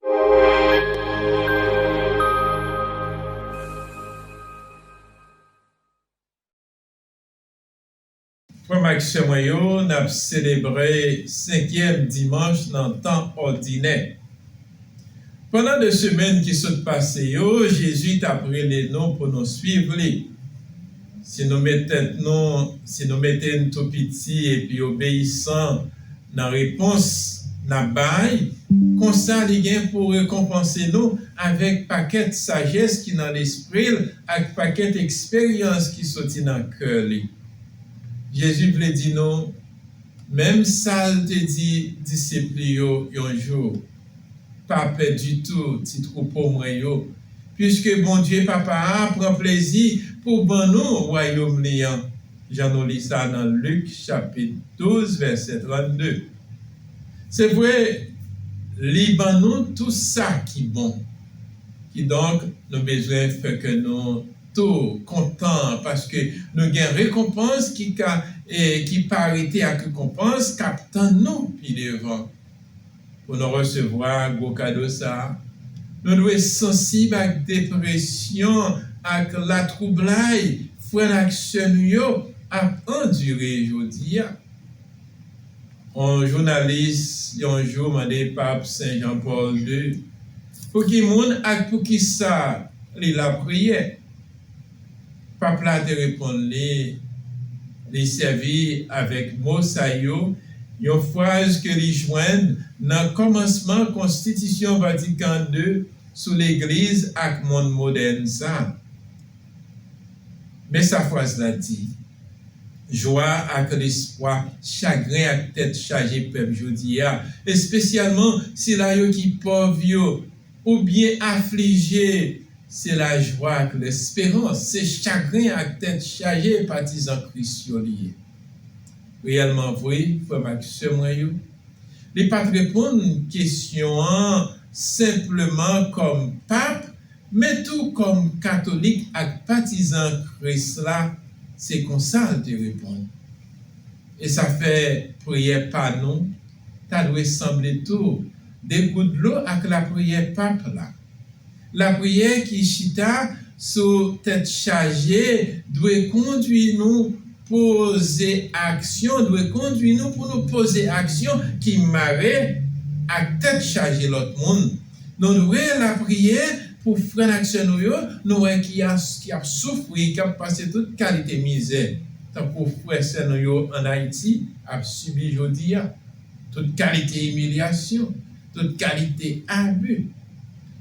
Frè m ak sè mwen yo, n ap selebre senkyèm dimanch nan tan òdinè. Pandan de semèn ki sot pase yo, Jezi t ap rele nou pou nou suiv li. Si nou met tèt nou, si nou mete n tou piti epi obeyisan nan repons n ap bay, konsa li gen pou rekonpanse nou avèk pakèt sajès ki nan lespri l ak pakèt eksperyans ki soti nan kè li. Jezi vle di nou menm sa l te di disip li yo yon jou. Pa pè ditou, ti twoupo mwen yo, piske Bondye Papa a pran plezi pou ban nou wayòm li an, jan nou li sa nan Lik chapit 12 vèsè 32. Se vre, li ban nou tou sa ki bon. Kidonk, nou bezwen fè kè nou tou kontan paske nou gen rekonpans ki ka e ki pa rete ak rekonpans k ap tann nou pi devan. Pou nou resevwa gwo kado sa a, nou dwe sansib ak depresyon ak latwoublay frè n ak sè nou yo ap andire jodi a. On jounalis yon jou mande Pap Sen Jan Pòl ii pou ki moun ak pou ki sa li lapriyè. Pap la te reponn li, li sèvi avèk mo sa yo, yon fraz ke li jwenn nan kòmansman Konstitisyon Vatikan ii sou Legliz ak monn modèn sa. Men sa fraz la di, Jwa ak lespwa chagren ak tèt chaje pèp jodi a, espesyalman sila yo ki pòv yo, Ou byen aflije se lajwa ak lesperans, se chagren ak tèt chaje patizan Kris yo li ye. Reyèlman vre, frè m ak sè mwen yo, li pa t reponn kesyon an senpleman kòm Pap, men tou kòm katolik ak patizan Kris la, se konsa l te reponn. E sa fè priyè pa nou, ta dwe sanble tou de gout dlo ak lapriyè Pap la. Lapriyè ki chita sou tèt chaje dwe kondwi nou poze aksyon dwe kondwi nou pou nou poze aksyon ki mare ak tèt chaje lòt moun. Nou dwe lapriyè pou frè n ak sè nou yo nou wè ki ap soufri, k ap pase tout kalite mizè, tankou frè sè nou yo ann Ayiti, ap sibi jodi a, tout kalite imilyasyon, tout kalite abi,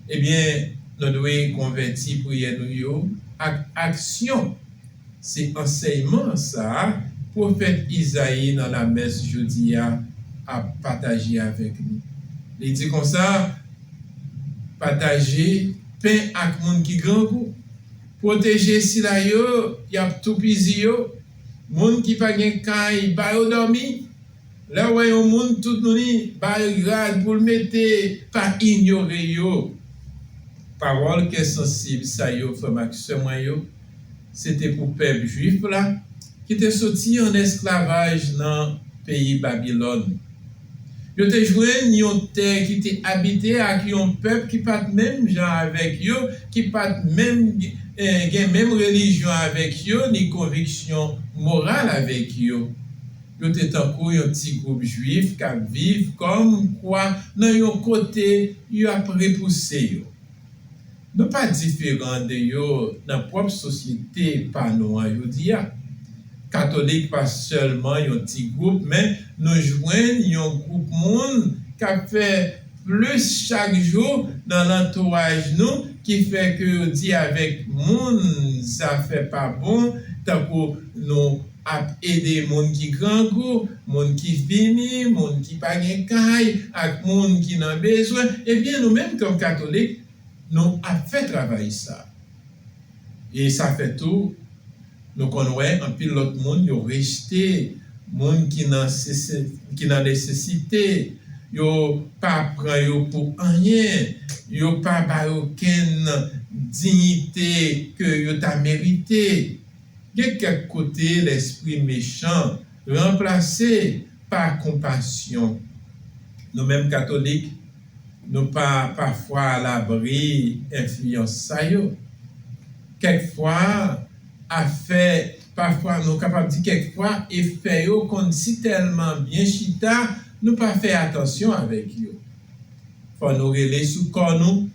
ebyen nou dwe konvèti priyè nou yo ak aksyon, se ansèyman sa a pwofèt Izayi nan lamès jodi a ap pataje avèk nou, li di konsa, Pataje pen ak moun ki grangou, pwoteje sila yo y ap toupizi yo. Moun ki pa gen kay ba yo dòmi, lè wè yon moun tout nouni ba yo rad pou l mete pa inyore yo. Pawòl kè sansib sa yo frè m ak sè mwen yo se te pou pèp jwif la ki te soti an esklavaj nan peyi Babilòn. Yo te jwenn yon tè ki te abite ak yon pèp ki pa t menm jan avèk yo, ki pa t menm gen menm relijyon avèk yo ni konviksyon moral avèk yo. Yo te tankou yon ti gwoup Juif k ap viv kòmkwa nan yon kote yo ap repouse yo. Nou pa diferan de yo nan pwòp sosyete pa nou an jodi a. Katolik pa sèlman yon ti gwoup men nou jwenn yon gwoup moun k ap fè plis chak jou nan lantouraj nou ki fè ke yo di avèk moun zafè pa bon tankou nou ap ede moun ki grangou, moun ki fini, moun ki pa gen kay ak moun ki nan bezwen. Ebyen nou menm kòm katolik nou ap fè travay sa e sa fè tou nou konn wè anpil lòt moun yo rejte moun ki nan ki nan nesesite yo pa pran yo pou anyen yo pa ba yo okenn diyite ke yo ta merite gen kèk kote lèspri mechan ranplase pa konpasyon nou menm katolik Nou pa pafwa alabri enfliyans sa yo. Kèk fwa afè, pafwa nou kapab di kèk fwa efè yo konn si tèlman byen chita nou pa fè atansyon avèk yo. Fò nou rele sou kò nou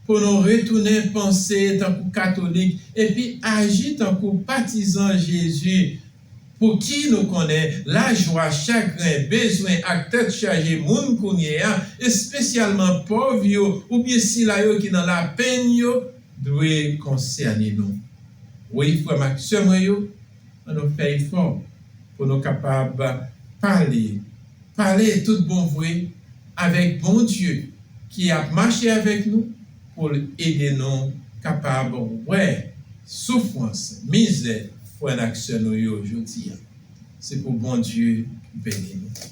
pou nou retounen panse tankou katolik epi aji tankou patizan Jezi. Pouki nou konnen lajwa, chagren, bezwen ak tèt chaje moun kounyeya, espesyalman pòv yo oubyen sila yo ki nan lapenn yo, dwe konsène nou? Wi, frè m ak sè mwen yo, annou fè efò pou nou kapab pale. Pale tout bon vre avèk Bondye ki ap mache avèk nou pou l ede nou kapab wè soufrans, mizè frè n ak sè nou yo jodi a. Se pou Bondye beni nou.